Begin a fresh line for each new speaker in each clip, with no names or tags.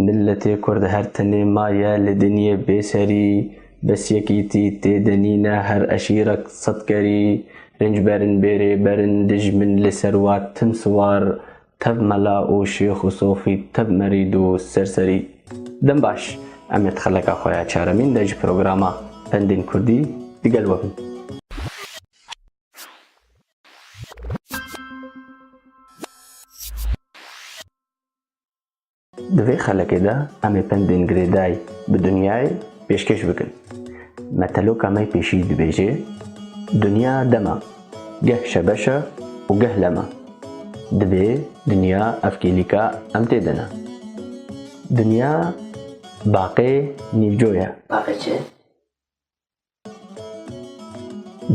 Milletê Kurd her tenê maye li dinyê bêserî, bes yekîtî tê de nîne her eşîrek sed kerî rînc berin bêrê berin dijmin li ser wa tim siwar tev mela û şêx û sofî tev merîd û ser serî. Dem baş, em ê di xeleka xwe ya çaremîn de ji programa Pendên Kurdî di gel we bin. Di vê xelekê de em ê pendên girêdayî bi dinyayê pêşkêş bikin. Meteloka me pêşî dibêje, Dinya dem e, geh şebeş e û geh lem e. Divê dinya ev kêlîka em tê de ne. Dinya baqê nîvco ye. Baqê çi?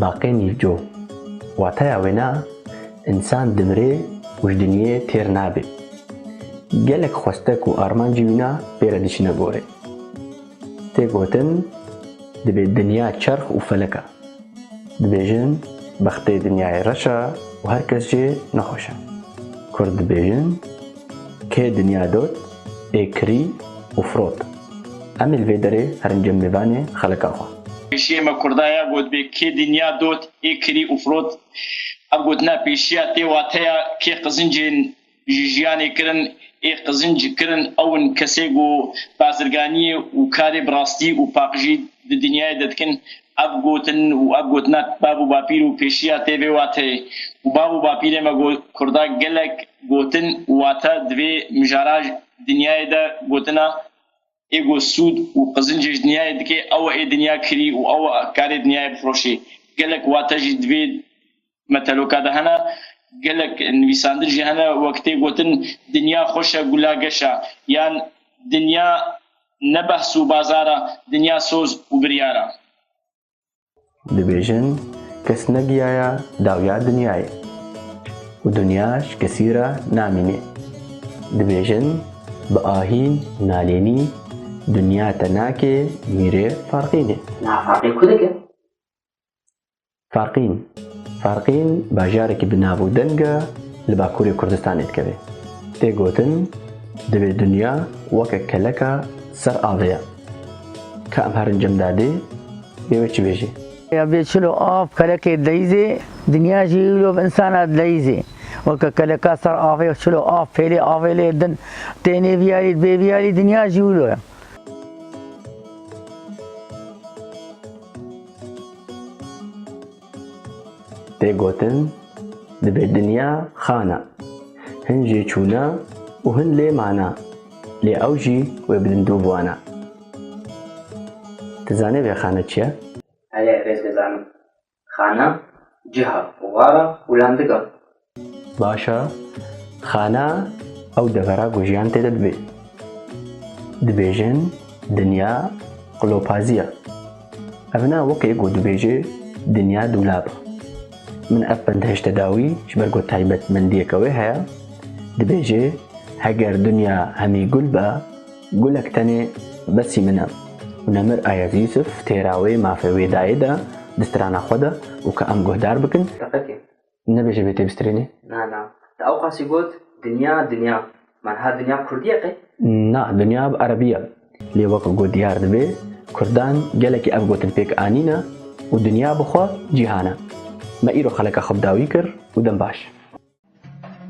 Baqênî co, wateya wêne însan dimire û ji dinyê têr nabe. Gelek xwestek û armancî wîne pê re diçine gorê. Tê gotin dibê dinya çerx û felek e. Dibêjin bextê dinyayê reş e û her kes jê nexweş e. Kurd dibêjin, Kê dinya dot? ê kirî û firot. Em ê li vê derê herin cem mêvanê xelika xwe. Pêşiyê me kurda
ya gotbê kê dinya dot ê kirî û firot. Ev gotina pêşiya tê wateya kê qizincên ji jiyanê kirin ê qizinc kirin ew in kesê ku bazirganiyê û karê bi rastî û paqijî di dinyayê de dikin Ev gotin û ev gotina bav û bapîr û pêşiya tê vê wateyê û bav û bapîrên me got Kurda gelek gotin û wate di vê mijara dinyayê de gotina Ê ku sûd û qizincê ji dinyayê dikê ew e ê dinya kirî û ew e karê dinyayê bifiroşê. Gelek wate jî di vê Me teroka de hene, gelek nivîsandin jî hene wek tê gotin dinya xweş e gula geş e yan dinya ne behs û bazar e dinya soz û biryar e. Dibêjin
kes ne giyaya dawiya dinyayê û dinya ji kesî re namînê. Dibêjin bi ahî û nalênî dinya te nakê mîrê farqînê. Nafaqê ku
dike? Farqîn
Farqîn bajarekî bi nav û deng e li Bakurê Kurdistanê dikeve. Tê gotin divê dinya weke keleka ser avê ya. Ka em herin cem dadê bê wê çi bêjê. Ya bê çilo
av kelekê deyzê, dinya jî îro bi insana deyzê. Weke keleka ser avê çilo av pêlê avê lê din. Tê nêviyarî bê viyarî dinya jî îro ye.
Tê gotin dibe dinya xana. Hin jê çûna û hin lê mana. Lê ew jî wê bi lindûv wana. Ti zanî vê xana çi ye? Erê ev ez
dizanim. Xana, ciha, wara û landiga. Baş
e, xana ew devera ku jiyan tê de dibê. Dibêjin dinya qilopazî ye. Ev ne wekê ku dibêjî dinya dûlab e. Min ev pindhişte da wî ji ber ku taybetmendiyeke wê heye, dibêjê heger dinya hemî gul be, gulek tenê besî min e. Û Nemir Ayaz Yûsif têra wê mafê wê dayê de di strana xwe de û ka em guhdar bikin, teqetê
Nebêje bê
têbistirênê? Na na. Te
ewqasî got dinya dinya. Menha dinya kurdî ye qey? Na, dinya bi
erebî ye. Lê wek ku diyar dibe kurdan gelekî ev gotin pêk anîne û dinya bi xwe cîhan e. Me îro xeleka xwe bi dawî kir û dem baş.